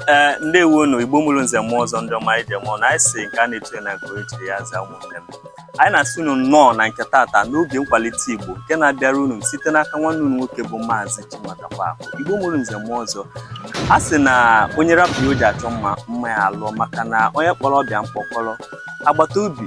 ee ndewo nụ igbo mụrụ nze mụọ ọzọ ndị ọma anyị ji eme ọnụ anyị sị nke a na-etu na nke onye chiri ya za ụmụnne m anyị na-asị unu nnọọ na nke tata n'oge nkwalite igbo nke na-abịara unu site n'aka nwanne unu nwoke bụ maazị chinwatakwa akụ igbo mụrụ nze mụọ ọzọ a sị na onye rapụ ihe o ji achọ mma mma ya alụọ maka na onye kpọrọ ọba ya mkpọkọrọ agbata obi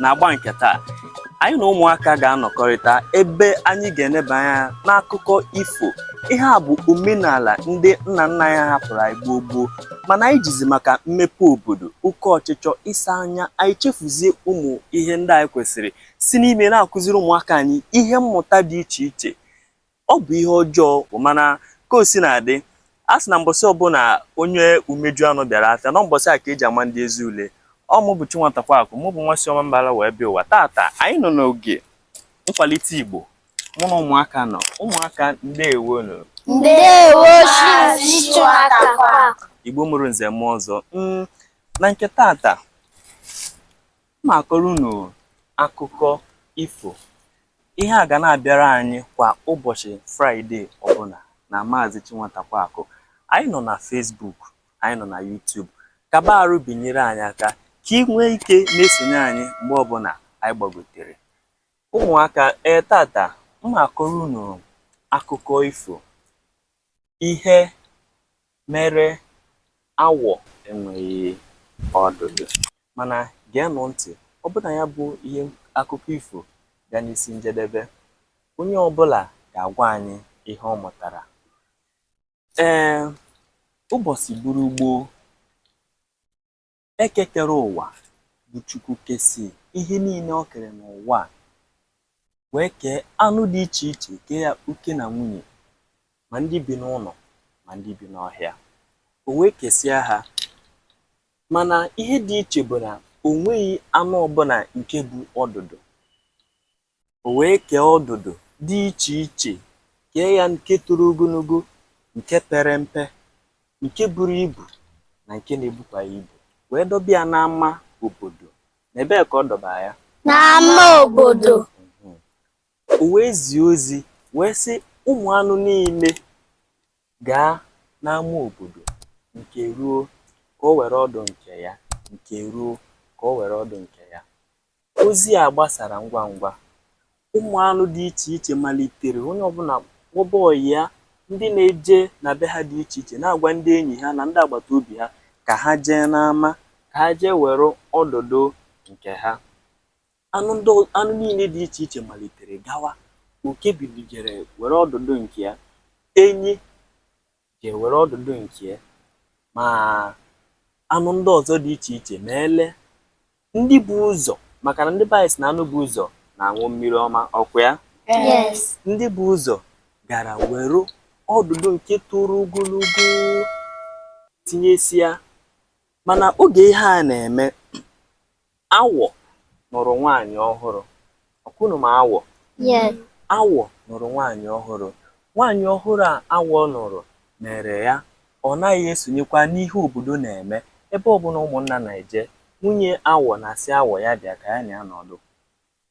n'agba nke taa anyị na ụmụaka ga-anọkọrịta ebe anyị ga-eneba anya n'akụkọ ifo ihe a bụ omenala ndị nna nna anyị hapụrụ anyị gboo gboo mana anyị jizi maka mmepe obodo oke ọchịchọ ịsa anya anyị chefuzie ụmụ ihe ndị anyị kwesịrị isi n'ime na-akụziri ụmụaka anyị ihe mmụta dị iche iche Ọ bụ ihe ọjọọ mana ka o si na-adị a sị na mbọsị ọbụla onye umeju anụ bịara afịa na mbọsị a ka e ji ama ndị ezi ule ọ mụ bụ Chinwatakwa Akụ mụ bụ nwa si Ọmambala wee bịa ụwa tata anyị nọ n'oge nkwalite Igbo mụ na ụmụaka nọ ụmụaka ndewo nụ ndewo Igbo mụrụ nze mụọ ọzọ mm, na nke tata M ma-akọrọ unu akụkọ ifo. Ihe a ga na-abịara anyị kwa ụbọchị Fraịde ọbụla na Maazị Chinwatakwa Akụ. Anyị nọ na Facebook, anyị nọ na YouTube. Kaba arụ binyere anyị aka ka i nwee ike na-esonye anyị mgbe ọbụla anyị gbagotere. Ụmụaka, ee tata, m ma-akọrọ unu akụkọ ifo. Ihe mere awọ enweghị ọdụdụ mana geenụ ntị ọ bụ na ya bụ ihe akụkọ ifo gaa n'isi njedebe onye ọbụla ga-agwa anyị ihe ọ mụtara ee ụbọchị gburu gboo Eke kere ụwa bụ Chukwu kesị ihe niile o kere n'ụwa a wee kee anụ dị iche iche kee ya oke na nwunye ma ndị bi n'ụlọ ma ndị bi n'ọhịa o wee kesịa ha mana ihe dị iche bụ na o nweghị anụ ọbụla nke bu ọdụdụ O wee kee ọdụdụ dị iche iche, kee ya nke toro ogologo, nke pere mpe, nke buru ibu, na nke na-ebukwaghị ibu, wee dọba ya n'ama obodo. N'ebee ka ọ dọbara ya? N'ama obodo. Mhm. O wee zie ozi wee sị ụmụ anụ niile gaa n'ama obodo nke ruo ka o were ọdụ nke ya nke ruo ka o were ọdụ nke ya Ozi a gbasara ngwa ngwa, ụmụ anụ dị iche iche malitere onye ọbụla kpọba ọyị ya, ndị na-eje na be ha dị iche iche na-agwa ndị enyi ha na ndị agbata obi ha ka ha jee n'ama ka ha jee were ọdụdụ nke ha. Anụ ndị ọ anụ niile dị iche iche malitere gawa. Oke bilie jee were ọdụdụ nke ya, enyi jee were ọdụdụ nke ya ma anụ ndị ọzọ dị iche iche ma ele ndị bu ụzọ maka na ndị be anyị sị na anụ bu ụzọ na-aṅụ mmiri ọma ọkwa ya Yes. ndị bu ụzọ gara were ọdụdụ nke toro ogologo tinyesịa mana oge ihe a na-eme Awọ nụrụ nwaanyị ọhụrụ. Ọkwa unu ma awọ? Yes. Awọ nụrụ nwaanyị ọhụrụ. Nwaanyị ọhụrụ a awọ nụrụ mere ya ọ naghị esonyekwa n'ihe obodo na-eme. Ebe ọbụla ụmụnna na-eje, nwunye awọ na-asị awọ ya bịa ka ya na ya nọdụ.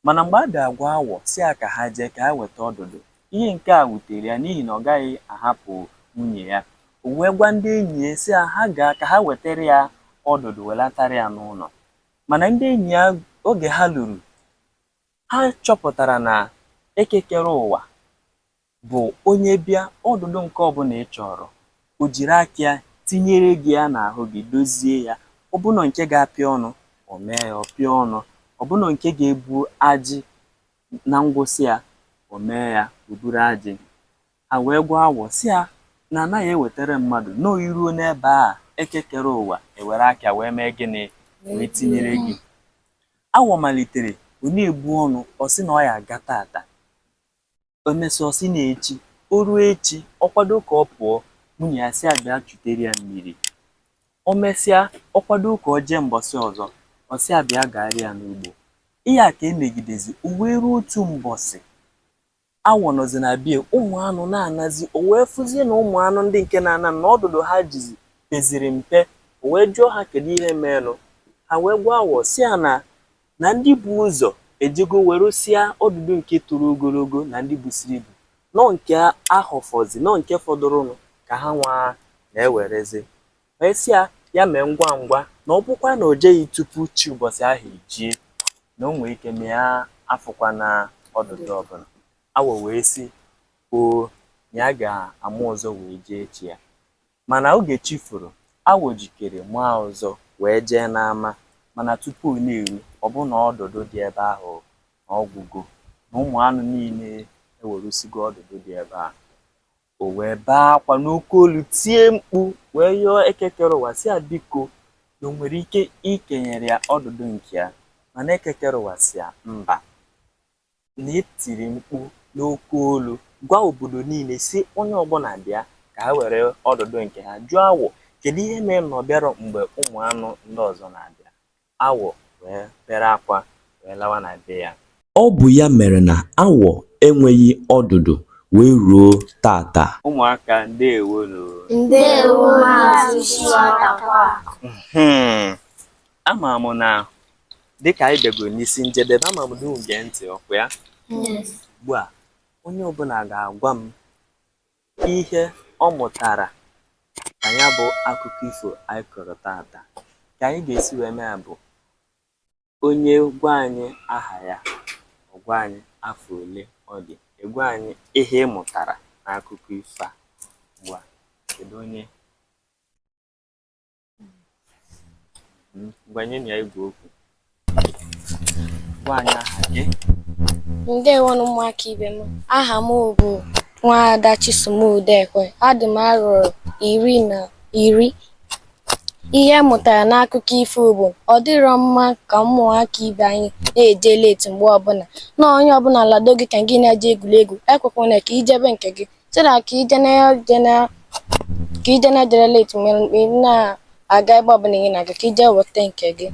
Mana mgbe a bịa gwa awọ sị ya ka ha jee ka ha weta ọdụdụ, ihe nke a wutere ya n'ihi na ọ gaghị ahapụ nwunye ya. O wee gwa ndị enyi ya sị ha ha gaa ka ha wetara ya ọdụdụ welatara ya n'ụlọ. Mana ndị enyi ya oge ha luru, ha chọpụtara na Eke kere ụwa bụ onye bịa ọdụdụ nke ọbụla ị chọrọ, o jiri aka ya tinyere gị ya n'ahụ gị, dozie ya. Ọ bụ na nke ga-apịa ọnụ, o mee ya, ọ pịa ọnụ. Ọ bụ na nke ga-ebu ajị na ngwụsị ya, o mee ya, o buru ajị. Ha wee gwa awọ sị ya na anaghị ewetara mmadụ na ọ i ruo n'ebe a eke kere ụwa ewere aka ya wee mee gịnị wee tinyere gị. Awọ malitere ọ na-ebu ọnụ ọ sị na ọ ya-aga tata. o mesịa ọ sị na echi o ruo echi ọ kwado ka ọ pụọ nwunye ya sị ya bịa chutere ya mmiri o mesịa ọ kwado ka o jee mbọsị ọzọ ọ sị ya bịa gaara ya n'ugbo ihe a ka emegidezi o wee ruo otu mbọsị awọ nọzi na bie ụmụ anụ na-anazi o wee fụzie na ụmụ anụ ndị nke na-ana na ọdụdụ ha jizi peziri mpe o wee jụọ ha kedu ihe meenụ ha wee gwa awọ sị ya na na ndị bu ụzọ ejego weresịa ọdụdụ nke toro ogologo na ndị busiri ibu na ọ nke a họfọzi na ọ nke fọdụrụnụ ka ha nwa na-ewerezi wee sị ya ya mee ngwa ngwa na ọ bụkwa na o jeghị tupu chi ụbọchị ahụ ejie na o nwee ike na ya afụkwana ọdụdụ ọbụla awọ wee sị o na ya ga-ama ụzọ wee jee echi ya Mana oge chi foro, awọ jikere maa ụzọ wee jee n'ama, mana tupu ọ na-eru, ọ bụ na ọdụdụ dị ebe ahụ na ọ gwụgo, na ụmụ anụ niile ewerusigo ọdụdụ dị ebe ahụ. O wee bee akwa n'oke olu, tie mkpu wee yọọ Eke kere ụwa sị ya biko na o nwere ike ikenyere ya ọdụdụ nke ya, mana Eke kere ụwa sị ya mba. na e tiri mkpu n'oke olu gwa obodo niile si onye ọbụla bịa ka ha were ọdụdụ nke ha jụọ awọ kedu ihe mere na ọ bịarọ mgbe ụmụ anụ ndị ọzọ na-abịa awọ wee bere akwa wee lawa na be ya ọ bụ ya mere na awọ enweghị ọdụdụ wee ruo taata ụmụaka ndewonụ ndewo maazị Chiatakwa hmm. ama m na dịka anyị bịagoro n'isi njedebe ama m na unu gee ntị ọkwa ya Yes. ugbu a onye ọbụla ga-agwa m ihe ọ mụtara na ya bụ akụkọ ifo anyị kọrọ taata ka anyị ga-esi wee mee ya bụ onye gwa anyị aha ya ọ gwa anyị afọ ole ọ dị ị gwa anyị ihe ị mụtara n'akụkọ ifo a ugbu a kedu onye ngwa nyenụ ya igwe okwu gwa anyị aha gị ndewonụ ụmụaka ibe m aha m bụ nwaada Chisom Udekwe adị m arọ iri na iri ihe m mụtara n'akụkọ ifo bụ ọ dịrọ mma ka ụmụaka ibe anyị na-eje leti mgbe ọbụla na onye ọbụla lado gị ka gị na-eje egwuregwu ekwekwana ka i jebe nke gị so that ka ije na ije na ka ije na jere late nwere mgbe ị na-aga ebe ọbụla ị na-aga ka i jee weta nke gị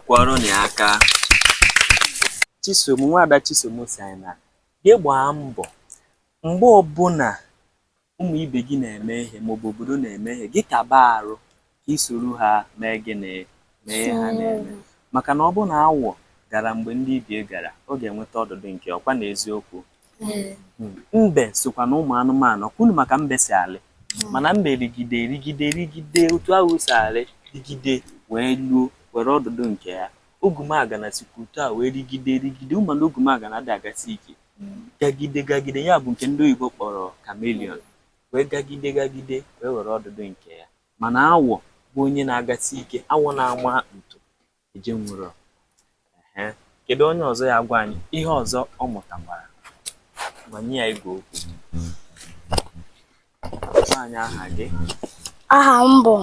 kụọrọnụ ya aka Chisom nwaada Chisom si anyị na gị gbaa mbọ mgbe ọbụla ụmụ ibe gị na-eme ihe maọbụ obodo na-eme ihe gị kaba arụ ka i soro ha mee gịnị? Mee ihe ha na-eme. Maka na ọ bụrụ na awọ gara mgbe ndị ibie gara, ọ ga-enweta ọdụdụ nke ya, ọkwa na eziokwu? Mbe sokwa na ụmụ anụmanụ. Ọkwa unu ma ka mbe si alị? Mana mbe rịgide rịgide rịgide otu ahụ o si alị rịgide wee luo were ọdụdụ nke ya. Ogwumagana sikwa otu a wee rịgide rịgide. Unu ma na ogwumagana adịghị agasi ike. Gagide gagide, ya bụ nke ndị oyibo kpọrọ chameleon, wee gagide gagide wee were ọdụdụ nke ya. mana awọ bụ onye na-agasi ike awọ na-ama ntu ejenwurọ kedu onye ọzọ ya-agwa anyị ihe ọzọ ọ mụtakwara ngwa nye ya igwe okwu gwa anyị aha gị aha m bụ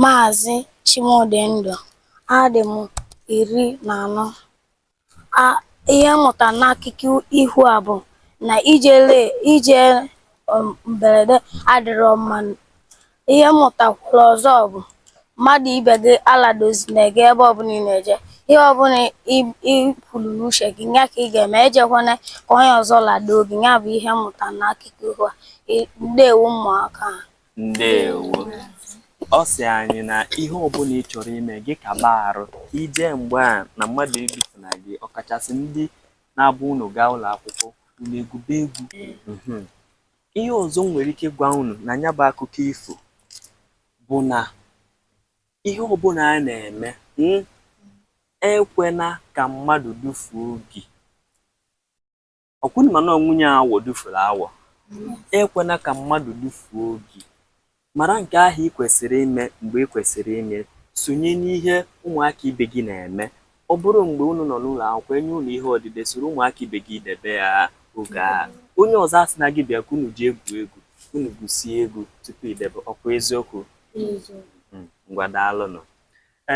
maazị Chimdịndụ adị m iri na anọ ihe m mụta n'akụkọ iho a bụ na ije le ije um, mberede adịrọ mma ihe m mụtakwuru ọzọ bụ mmadụ ibe gị aladozina gị ebe ọbụla ị na-eje ihe ọbụla i kwuru n'uche gị ya ka ị ga-eme ejekwana ka onye ọzọ ladoo gị ya bụ ihe m mụta n'akụkọ iho a ndewo ụmụaka ndewo ọ sị anyị na ihe ọbụla ị chọrọ ime gị kaba arụ ije mgbe a na mmadụ edufuna gị ọkachasị ndị na-abụ unu gaa ụlọ akwụkwọ unu egwube egwu Mhm. ihe ọzọ m nwere ike gwa unu na ya bụ akụkọ ifo bụ na ihe ọbụla a na-eme mm, ekwena ka mmadụ dufuo gị ọkwa unu ma na ọ nwunye awọ dufuru awọ ekwena ka mmadụ dufuo gị mara nke ahụ ị kwesịrị ime mgbe ị kwesịrị ime sonye n'ihe ụmụaka ibe gị na-eme ọ bụrụ mgbe unu nọ n'ụlọ akwụkwọ e nye unu ihe odide soro ụmụaka ibe gị debe ya oge a onye ọzọ asịna gị bịa ka unu jee gwuo egwu unu gwusie egwu tupu i debe ọkwa eziokwu hmm, ngwa daalụnụ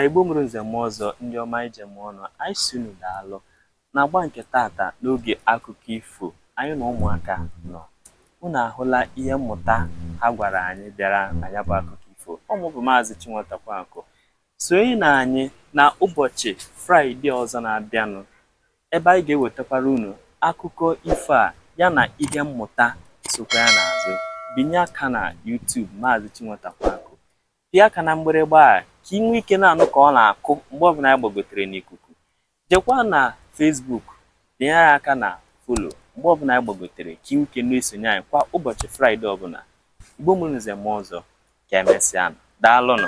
igbo mụrụ nze mụọ ọzọ ndị ọma e ji eme ọnụ anyị sị unu daalụ N'agba nke taata n'oge akụkọ ifo, anyị na ụmụaka nọ. Unu ahụla ihe mmụta ha gwara anyị bịara na ya bụ akụkọ ifo. Ọ mụ bụ Maazị Chinwata Kwankụ. Sonyenụ anyị na ụbọchị Fraịde ọzọ na-abịanụ ebe anyị ga-ewetakwara unu akụkọ ifo a ya na ihe mmụta sokwa ya n'azụ. Binye aka na YouTube Maazị Chinwata Kwankụ. pịa aka na mgbịrịgba a ka ị nwee ike na-anụ ka ọ na-akụ mgbe ọbụla anyị gbagotere n'ikuku jekwa na Facebook binye aka na follow mgbe ọbụla anyị gbagotere ka ị nwee ike na-esonye anyị kwa ụbọchị fraịde ọbụla igbo mụrụ nze mụọ ọzọ ka emesịa daalụnụ